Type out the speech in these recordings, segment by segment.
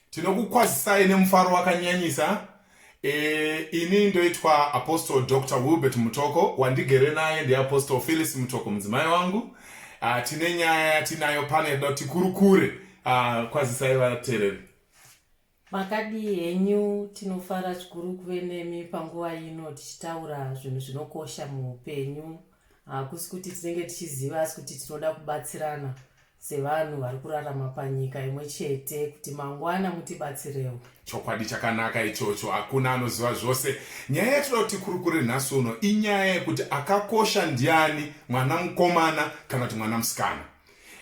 tinokukwazisai nemufaro wakanyanyisa e, ini ndoitwa apostle dr wilbert mutoko wandigere naye ndiapostle phyllis mutoko mudzimai wangu uh, tine nyaya yatinayo pane da tikurukure uh, kwazisai vatereri makadii henyu tinofara zvikuru kuve nemi panguva ino tichitaura zvinhu zvinokosha muupenyu hakusi kuti tinenge tichiziva asi kuti tinoda kubatsirana sevanhu vari kurarama panyika imwe chete kuti mangwana mutibatsirewo chokwadi chakanaka ichocho hakuna anoziva zvose nyaya yatinoda kuti kurukure nhasi uno inyaya yekuti akakosha ndiani mwana mukomana kana kuti mwana musikana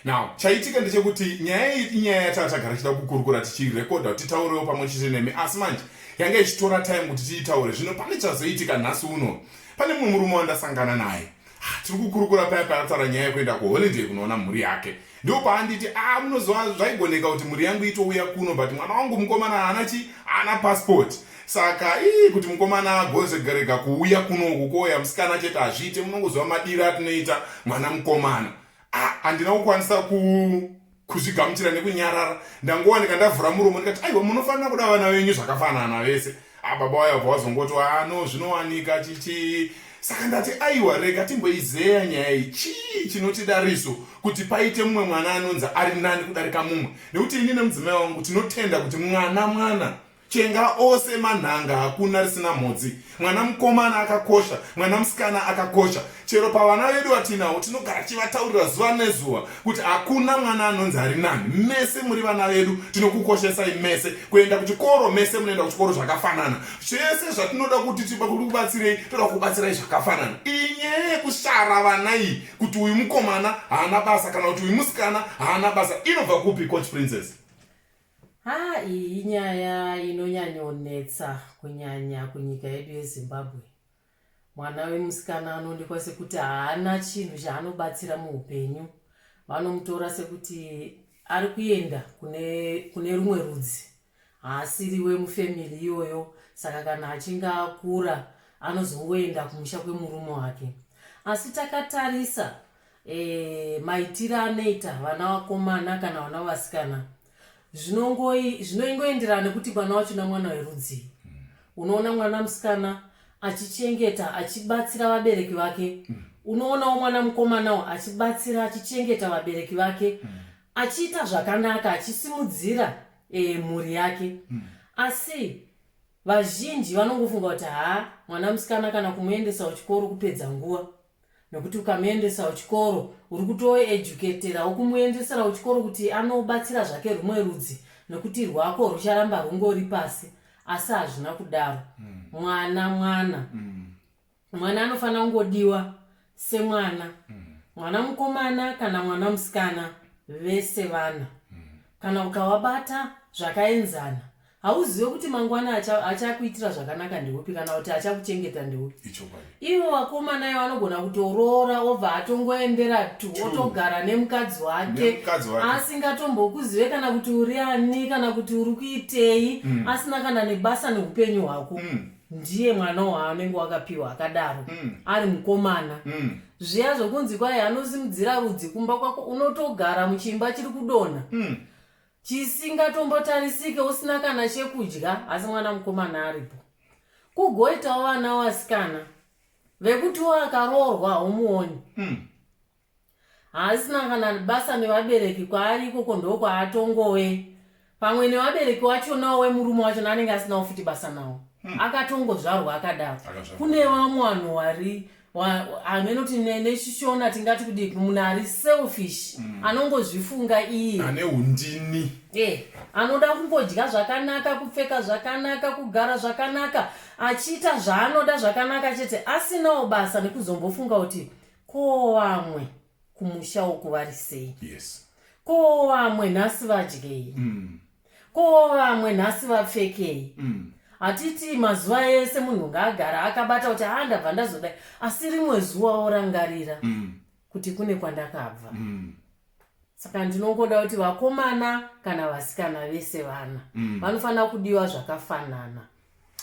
now chaitika ndechekuti nyaya iyi inyaya yatava tagara tichida kukurukura tichirekodha kuti titaurewo pamwe chete nemi asi manje yanga ichitora time kuti tiitaure zvino pane chazoitika nhasi uno pane mumwe murume wandasangana naye Ah, tiri kukurukura paya paataura nyaya yekuenda kuholiday kunoona mhuri yake ndipo paanditi a ah, munoziva zvaigoneka kuti mhuri yangu itouya kuno but mwana wangu mukomana haana chi haana passport saka ii kuti mukomana agozegerega kuuya kuno uku kouya musikana chete hazviite munongoziva madiro atinoita mwana mukomana a ah, handina kukwanisa ku kuzvigamuchira nekunyarara ndangowanika ndavhura muromo ndikati aiwa munofanira kuda vana venyu zvakafanana vese ababa ah, wayabva wazongoti ano ah, zvinowanika chichii saka ndati aiwa rega timboizeya nyaya iyi chii chinotidariso kuti paite mumwe mwana anonzi ari nani kudarika mumwe nekuti ini nemudzimai wangu tinotenda kuti mwana mwana Chenga ose manhanga hakuna risina mhodzi. Mwana mukomana akakosha, mwana musikana akakosha. Chero pavana vedu vatinawo tinogara chivataurira zuva nezuva kuti hakuna mwana anonzi ari nani. Mese muri vana vedu, tinokukoshesai mese. Kuenda kuchikoro mese munoenda kuchikoro zvakafanana. Zvese zvatinoda kuti tiba kuti kubatsirei, toda kubatsirai zvakafanana. Iyi nyaya yekushara vana iyi kuti uyu mukomana haana basa kana kuti uyu musikana haana basa inobva kupi coach princess? Haa iyi inyaya inonyanyonetsa kunyanya kunyika yedu yezimbabwe mwana wemusikana anoonekwa sekuti haana chinhu chaanobatsira muupenyu vanomutora sekuti ari kuenda kune, kune rumwe rudzi haasiri wemufamili iyoyo saka kana achinge akura anozongoenda kumusha kwemurume wake asi takatarisa e, maitire anoita vana vakomana kana vana vasikana zvinoingoenderana nekuti mwana wacho na mwana werudzii mm. unoona mwana musikana achichengeta achibatsira vabereki vake mm. unoonawo mwana mukomanawo achibatsira achichengeta vabereki vake mm. achiita zvakanaka achisimudzira e, mhuri yake mm. asi vazhinji vanongofunga kuti haa mwana musikana kana kumuendesa kuchikoro kupedza nguva nokuti ukamuendesa kuchikoro uri kutoeducatera ukumuendesera kuchikoro kuti anobatsira zvake rumwe rudzi nokuti rwako rucharamba rungori pasi asi hazvina kudaro mm. mwana mwana mm. mwana anofanira kungodiwa semwana mm. mwana mukomana kana mwana musikana vese vana mm. kana ukavabata zvakaenzana hauzive kuti mangwana achakuitira zvakanaka ndeupi kana kuti achakuchengeta ndeupi ivo vakomana ivo anogona kutoroora obva atongoendera tu otogara nemukadzi wake asingatombokuzive kana kuti uri ani kana kuti uri kuitei mm. asina kana nebasa neupenyu hwako mm. ndiye mwana waanenge wakapiwa akadaro mm. ari mukomana mm. zviya zvokunzi kwaye anosimudzira rudzi kumba kwako unotogara muchimba chiri kudonha mm. chisingatombotarisike usina kana chekudya asi mwana mukomana aripo kugoitawo vana wasikana vekutiwo akaroorwa haumuoni mm. haasina kana basa nevabereki kwaari ikoko ndokwaatongowe pamwe nevabereki wachonawo wemurume wacho naanenge asinawo futi basa nawo mm. akatongozvarwa akadaro kune vamwe vanhu wari hameno tine nechishona tingati kudi munhu ari selfish mm. anongozvifunga iye ane undini eh anoda kungodya zvakanaka kupfeka zvakanaka kugara zvakanaka achiita zvaanoda zvakanaka chete asinawo basa nekuzombofunga kuti ko vamwe kumusha uku vari sei yes ko vamwe nhasi vadyei mm. ko vamwe nhasi vapfekei mm. hatiti mazuva ese munhu ngaagara akabata kuti haa ndabva ndazodai asi rimwe zuva orangarira mm. kuti kune kwandakabva mm. saka ndinongoda kuti vakomana kana vasikana vese vana mm. vanofanira kudiwa zvakafanana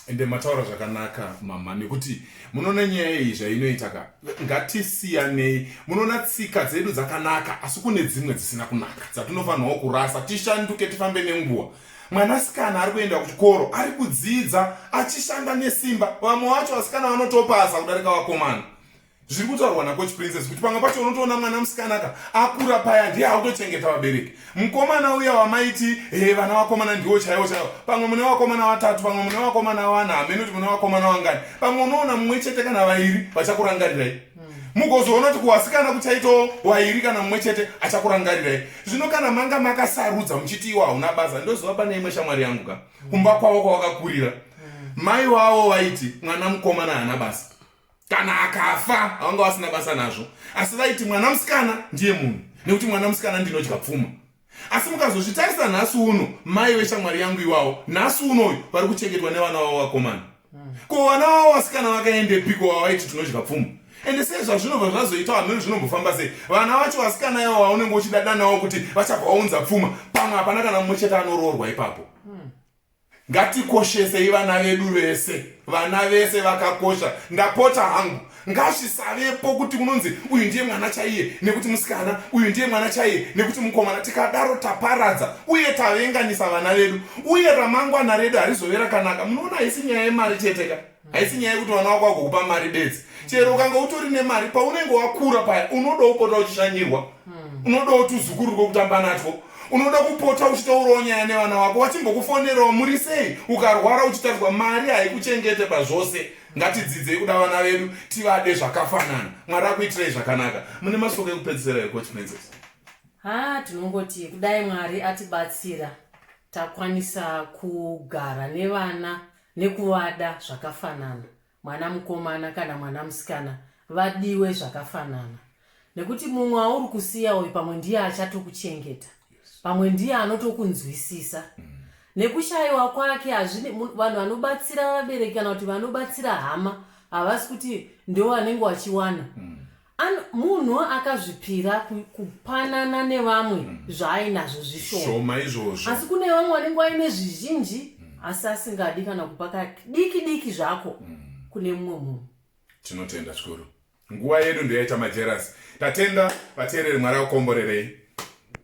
ende mataura zvakanaka mama nekuti munoona nyaya iyi zvainoita ka ngatisiyanei munoona tsika dzedu dzakanaka asi kune dzimwe dzisina kunaka dzatinofanirwa kurasa tishanduke tifambe nenguva mwanasikana ari kuenda kuchikoro ari kudzidza achishanda nesimba vamwe vacho vasikana vanotopasa kudarika vakomana zviri kutaurwa nacoach princess kuti pamwe pacho unotoona mwana musikana ka akura paya ndiye akutochengeta vabereki mukomana uya wamaiti he vana vakomana ndiwo chaiwo chaiwo pamwe mune vakomana vatatu pamwe mune vakomana vana hamene kuti mune vakomana vangani pamwe unoona mumwe chete kana vairi vachakurangarirai hmm. mugozoona kuti kuwasikana kuchaitawo wairi kana mumwe chete achakurangarirai zvino kana manga makasarudza muchiti iwo hauna basa ndoziva pane imwe shamwari yangu ka kumba kwavo kwawakakurira hmm. mai wavo vaiti mwana mukomana haana basa kana akafa havanga vasina basa nazvo asi vaiti mwana musikana ndiye munhu nekuti mwana musikana ndinodya pfuma asi mukazozvitarisa nhasi uno mai veshamwari yangu iwawo nhasi unoyu vari kuchengetwa nevana vavo vakomana hmm. ko vana vavo vasikana vakaendepiko vavaiti tinodya pfuma ende sei zvazvinobva zvazoita hameno zvinombofamba sei vana vacho vasikana yavo vaunenge uchidadanawo kuti vachabva vaunza pfuma pamwe hapana kana mumwe chete anoroorwa ipapo hmm. Ngatikoshesei vana vedu vese, vana vese vakakosha. Ndapota hangu, ngazvisavepo kuti unonzi uyu ndiye mwana chaiye nekuti musikana, uyu ndiye mwana chaiye nekuti mukomana. Tikadaro taparadza uye tavenganisa vana vedu, uye ramangwana redu harizove rakanaka. Munoona haisi nyaya yemari chete ka. haisi nyaya yekuti mwana wako agokupa mari bedzi chero ukanga utori nemari paunenge wakura paya unodawo kupota uchishanyirwa hmm. unodawo tuzukuru rwekutamba natwo unoda kupota uchitaurawo nyaya nevana wako vachimbokufonerawo muri sei ukarwara uchitarirwa mari haikuchengete pazvose ngatidzidzei kuda vana vedu tivade zvakafanana mwari akuitirei zvakanaka mune masoko ekupedzisira ekochimenzesa ha tinongoti kudai mwari atibatsira takwanisa kugara nevana nekuvada zvakafanana mwana mukomana kana mwana musikana vadiwe zvakafanana nekuti mumwe auri kusiya uyu pamwe ndiye achatokuchengeta pamwe ndiye anotokunzwisisa mm. nekushayiwa kwake hazvine vanhu vanobatsira vabereki kana kuti vanobatsira hama havasi kuti ndewanenge wachiwana mm. An- munhu akazvipira ku- kupanana nevamwe zvaainazvo zvishoma shoma izvozvo asi kune vamwe vanenge vaine zvizhinji asi asingadi kana kupa kadiki diki zvako kune mumwe munhu tinotenda zvikuru nguva yedu ndoyaita majerasi tatenda vateereri mwari akukomborerei